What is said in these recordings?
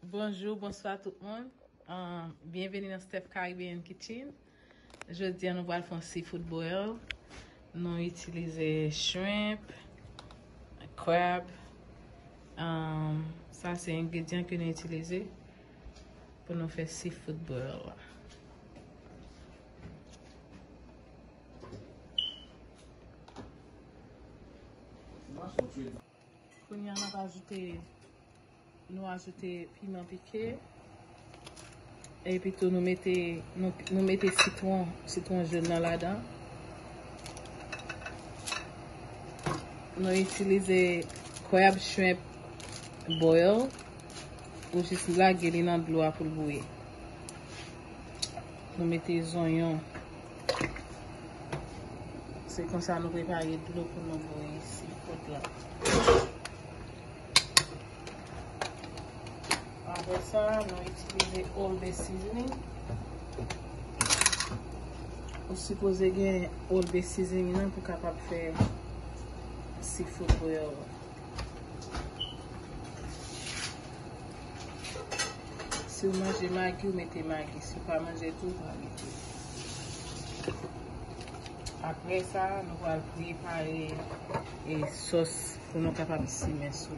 Bonjou bonswa tout moun Byenveni nan Steph Caribbean Kitchen Jodi an nou pral fè yon seafood boil Nou itilize shrimp Crab Sa se engredyan ke nou itilize Pou nou fè seafood boil la Mwen sou fil Kounye a nap ajoute nou ajoute piman pike epi tou nou mete nou mete sitwon sitwon jen nan ladan nou itilize crab shrimp boil ou jis lage li nan dlo a poul bouyi. Nou mete zonyon. Se konsa nou prepare dlo pou nou bouyi si pot la. Apre sa, nou itilize all the seasoning. Ou sipoze gen all the seasoning nan pou kapab fè seafood bouillon. Si w manje magi, w mete magi. Si w pa manje tou, w pa mete. Apre sa, nou va prepare e sos pou nou kapab simen sou.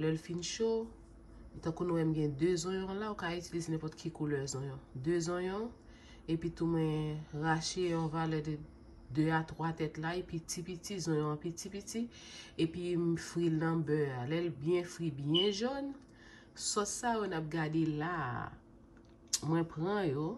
Lè l fin cho, tankou nou wè m gen 2 zonyon la, ou ka itilize nenpòt ki koulè zonyon. 2 zonyon, epi tou mwen rache yon valè de 2 a 3 tèt lay piti piti, zonyon an piti piti, epi m fri l nan bè a. Lè l byen fri, byen jòn, sòs sa yo n ap gade la a, mwen pran yo,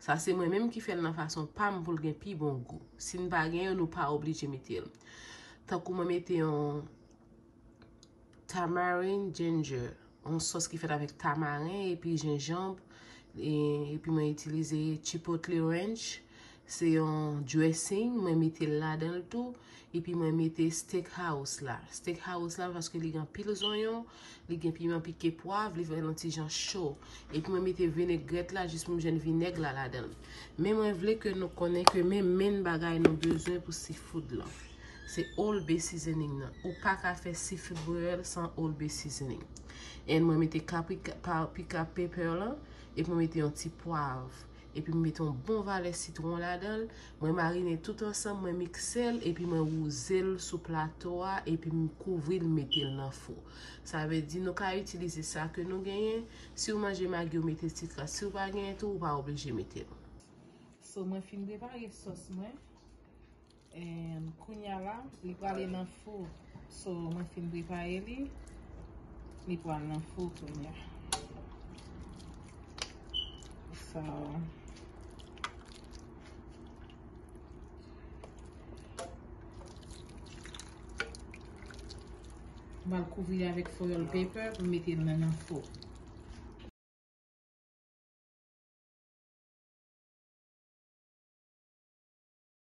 sa se mwen menm ki fè l nan fason pa m pou l gen pi bon gou. Si n pa gen yo, nou pa oblije mete l. Tankou mwen mete yon Tamarind ginger, yon sòs ki fèt avèk tamaren epi jenjanb, epi mwen itilize chipotle ranch, se yon dressing mwen mete ladan l tou, epi mwen mete steak house la, steak house la paske li gen anpil zonyon, li gen piman pike pwav, li fè l yon ti jan cho, epi mwen mete vinegrèt la jis pou m jwenn vinèg la ladan l. Men mwen vle ke nou konnen ke men menn bagay nou bezwen pou seafood lan. Se Old Bay seasoning nan. Ou pa ka fè seafood boil san Old Bay seasoning. And mwen mete paprika pepper lan. Epi mwen mete yon ti pwav. Epi mwen mete yon bon valè sitron ladan l. Mwen marine tout ansanm, mwen mikse l. Epi mwen wouze l sou plato a. Epi m kouvri l, m mete l nan fou. Sa vle di nou ka itilize sa ke nou genyen. Si ou manje magi ou mete ti kras. Si ou pa genyen tou, ou pa oblije mete l. So mwen fin prepare sòs mwen. And kounya la li prale nan four. So mwen fin prepare li. Li pral nan four kounya. So. Mal kouvri avèk foil paper pou mete nan nan four.